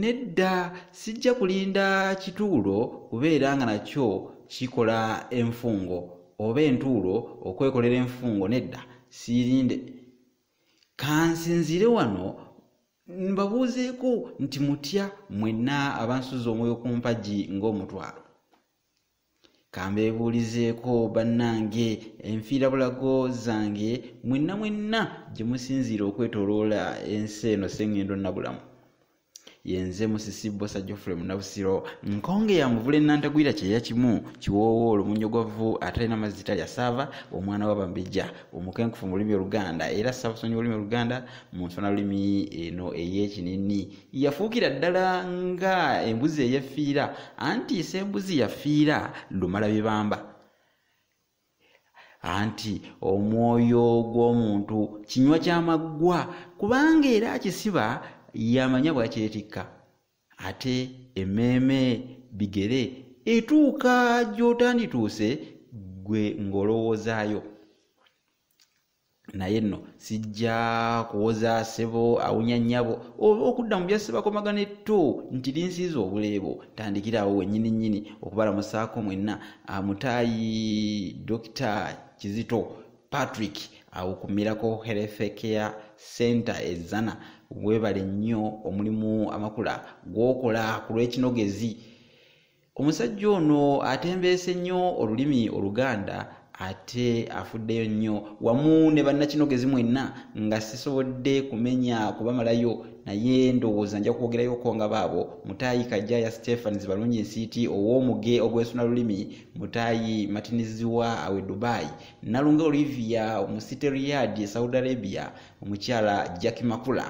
nedda sijja kulinda kituulo kubeera nga nakyo kikola enfungo oba entuulo okwekolera enfungo nedda siirinde kansinziire wano mbabuuzeeko nti mutya mwenna abansuza omwoyo ku mpagi ng'omutwalo kambeebuulizeeko bannange enfiirabulago zange mwenna mwenna gye musinziira okwetoloola ensi eno sengendo nabulamu yenze musisi bosa jofule munabusiro nkonge ya muvule nantagwira kyeya kimu kiwoowo olumunyogovu atalina mazzi talya saava omwana wabambejja omukenkufu mu lulimi oluganda era saabusonyi olulimi oluganda mu nsona lulimi eno ey'ekinini yafuukira ddala nga embuzi eyefiira anti isa embuzi yafiira lumala bibamba anti omwoyo gw'omuntu kinywa kyamaggwa kubanga era akisiba yamanya bwakyetikka ate emmeeme bigere etuuka gy'otandituuse gwe ng'olowoozaayo naye nno sijja kuwoza sebo awunya nnyabo oba okudda mu byasebakomagana etto nti linsiiza obuleebo tandikiraawo wennyini nnyini okubalamusaako mwenna amutaayi dokita kizito patrick awo ku miracle health care center ezana webale nnyo omulimu amakula gwokola ku lw'ekinogezi omusajja ono atembeese nnyo olulimi oluganda ate afuddeyo nnyo wamu ne bannakinogezi mwenna nga sisobodde kumenya kubamalayo naye ndowooza nja kwogerayoko nga baabo mutaayi kajjaya stephans balungi nsiiti ow'omuge ogwesuna lulimi mutaayi matiniziwa awe dubai nalunga olivia omusite riyad e saudi arabia omukyala jacki makula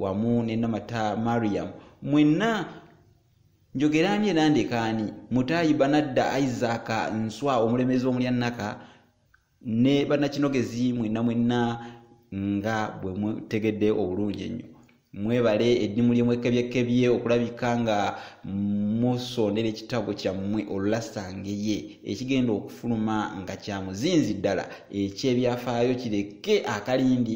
wamu nenamata mariam mwenna njogera ani era ndeka ani mutaayi banadda isaac nswa omulembezi omulya naka ne banakinogezi mwenna mwenna nga bwe mutegedde obulungi ennyo mwebale eddimu lye mwekebyekkebye okulabika nga musondera ekitabo kyammwe olulasangeye ekigenda okufuluma nga kya muzinzi ddala ekyebyafaayo kireke akalindi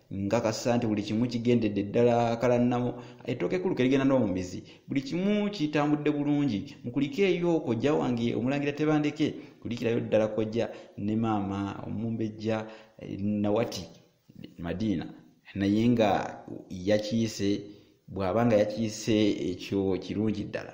nkakasa nti buli kimu kigendedde ddala kalannamo ettooka ekkulu kerigenda n'omumizi buli kimu kitambudde bulungi mukulike eyo kojja wange omulangira tebandeke kulikirayo ddala kojja ne maama omumbejja eh, nawati madiina naye nga yakiise bw'aba nga yakiise ekyo kirungi ddala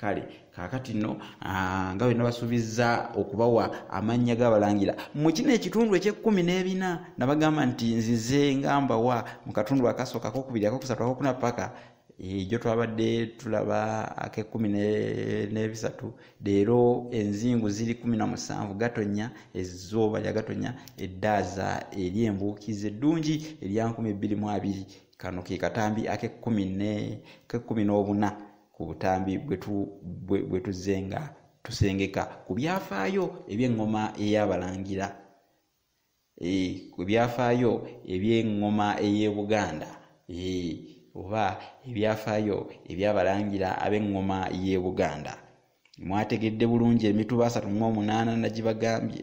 kale kakati no ah, nga bena basuubiza okubawa amannya gabalangira mu kino ekitundu ekyekkumi n'ebina nabagamba nti nzize nga mbawa mu katundu akasooka akokubiri akokusatu akokuna paka ejo eh, twabadde tulaba akekkumi n'ebisatu leero enzingu ziri kumi na musanvu gatonya ezooba lya gatonya eddaaza eri embuukizi eddungi erya nkumi bbiri mu abiri kano ke katambi akekkumi ne kekkumi n'obuna ku butambi bwe tuzze nga tusengeka ku byafaayo eby'eŋŋoma ey'abalangira e, ku byafaayo eby'eŋŋoma ey'e buganda e, oba ebyafaayo eby'abalangira ab'eŋŋoma y'e buganda mwategedde bulungi emituba asatu mu omunaana nagibagambye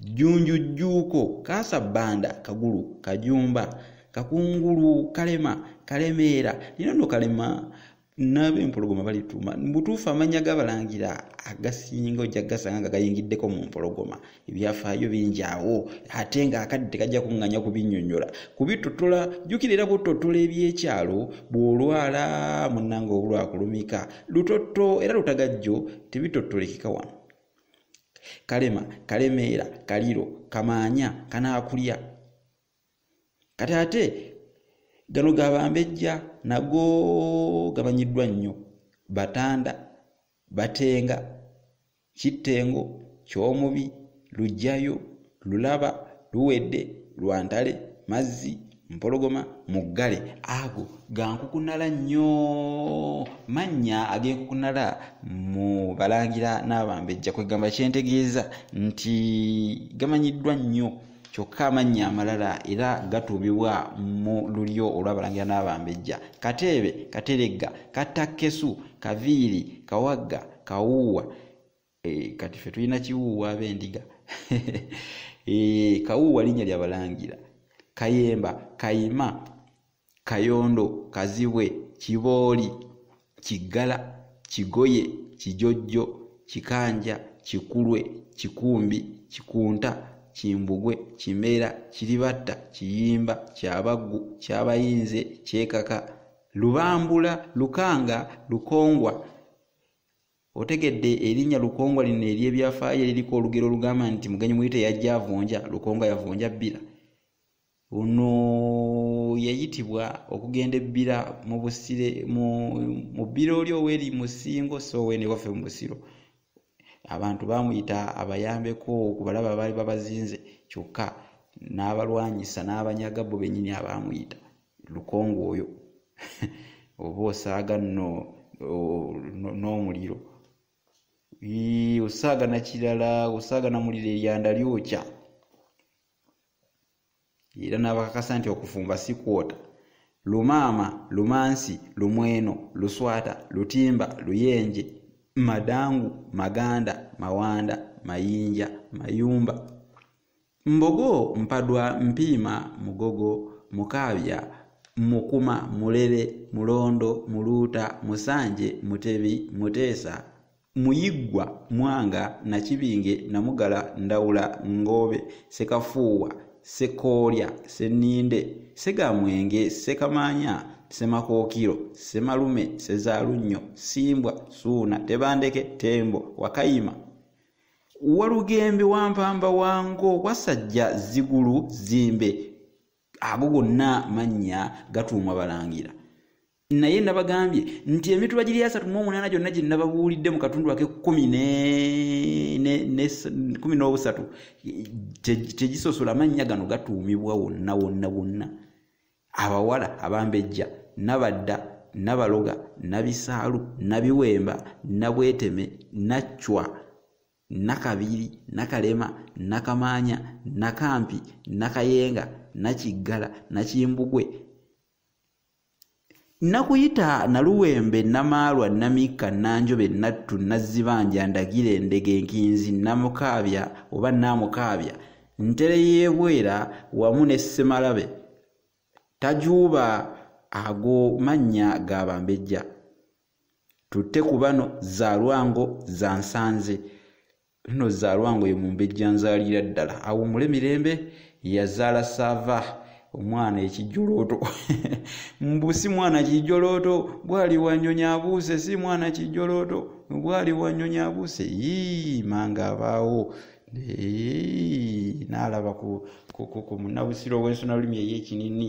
Jjunju Jjuuko, Kaasa Bbanda, Kagulu, Kajumba, Kakungulu, Kalema, Kalemeera, nino no Kalema naabe empologoma balituuma mubutuufu amannya gabalangira agasinga ojja gasanga nga gayingiddeko mu mpologoma ebyafaayo bingi awo ate nga akadde tekajja kunganya kubinyonyola kubitotola jjukira era butotola ebyekyalo bw'olwala munnanga obulwakulumika lutotto era lutagajjo tebitotolekeka wano kalema kalemeera kaliro kamaanya kanaakulya kati ate gano gabambejja nago gamanyiddwa nnyo batanda batenga kittengo kyomubi lujjayo lulaba luwedde lwantale mazzi mpologoma muggale ago gankukunala nnyo mannya agenkukunala mu balangira n'abambejja kwegamba kyentegeeza nti gamanyiddwa nnyo kyokka amannya amalala era gatuubibwa mu lulyo olw'abalangira n'abambejja kateebe kateregga kattakkesu kaviiri kawagga kawuuwa Eh, kati fe tulina kiwuuwa abendiga eh, kawuuwa linnya lyabalangira kayemba kayima kayondo kazibwe kibooli kiggala kigoye kijojjo kikanja kikulwe kikumbi kikunta kimbugwe kimera kiribatta kiyimba kyabaggu kyabayinze kyekaka lubambula lukanga lukongwa otegedde erinnya lukongwa lino ery'ebyafaayo eririko olugero olugamba nti mugenyi muyite yajja avunja lukongwa yavunja bbira ono yayitibwa okugenda ebbira mu busire mu bbira oli oweri mu singo so owene waffe mu busiro abantu baamuyita abayambeko ku balaba abaali babazinze kyokka n'abalwanyisa n'abanyaga bo bennyini abaamuyita lukongo oyo oba osaaga no n'omuliro osaaga nakirala osaaga namuliro eryanda lyokya era n'abakakasa nti okufumba si kwota lumaama lumansi lumweno luswata lutimba luyenje madangu maganda mawanda mayinja mayumba Mbogo, Mpadwa, Mpiima, Mugogo, Mukaabya, Mukuma, Mulele, Mulondo, Muluuta, Musanje, Mutebi, Muteesa, Muyiggwa, Mwanga, Nakibinge, Namugala, Ndawula, Ngoobe, Sekafuuwa, Ssekoolya, Ssenninde, Ssegamwenge, Ssekamaanya, Ssemakookiro, Ssemalume, Ssezaalunnyo, Ssimbwa, Ssuuna, Tebandeke, Ttembo, Wakayima, walugembe wampamba wango wasajja zigulu zimbe ago gonna mannya gatuumwa balangira naye nabagambye nti emituba giri asatu mu omunaana gyonna gye nababuulidde mu katundu ake kumi kumi n'obusatu tegisosola mannya gano gatuumibwa wonna wonna wonna abawala abambejja nabadda nabaloga nabisaalu nabiwemba nabweteme naccwa nakabiri nakalema nakamaanya nakampi nakayenga nakiggala nakimbugwe nakuyita naluwembe namaalwa namikka nanjobe nattu nazzibanja ndagira endege nkinzi namukaabya oba naamukaabya ntere y'ebwera wamu ne ssemalabe tajuuba ago mannya ga bambejja tutte ku bano zaalwango za nsanze lino zaalwa ngoyo mumbejja nzaalira ddala awumule mirembe yazaala saava omwana ekijolooto mbu si mwana kijolooto bwali wanyonyi abuuse si mwana kijolooto bwali wanyonyi abuuse yii manga abaawo naalaba ku munabusiro w'ensonalulimi ey'ekinini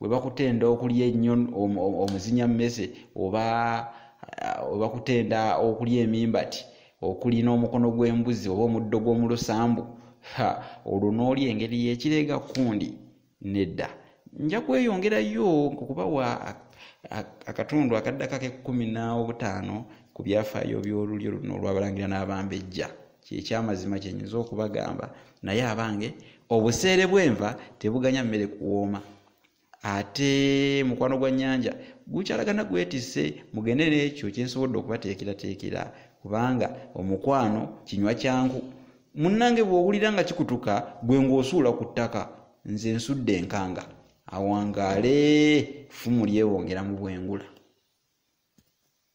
webakutenda okulya ennyo omuzinya mmese oba webakutenda okulya emimbati okulina omukono gw'embuzi oba omuddo gw'omu lusambu ha olwo n'oli engeri y'ekireega kundi nedda nja kweyongerayo okubawa akatundu akaddako ak'ekkumi n'obutaano ku byafaayo by'olulyo luno olw'abalangira n'abambejja kyekyamazima kyenyinza okubagamba naye abange obuseere bwenva tebuganya mmere kuwooma ate mukwano gwa nyanja gukyalagana gwetise mugende nekyo kyensobodde okubateekerateekera kubanga omukwano kinywa kyangu munnange bwowulira nga kikutuka gwe ngaosuula ku ttaka nze nsudde enkanga awangaale ffumu lyewongera mu bwengula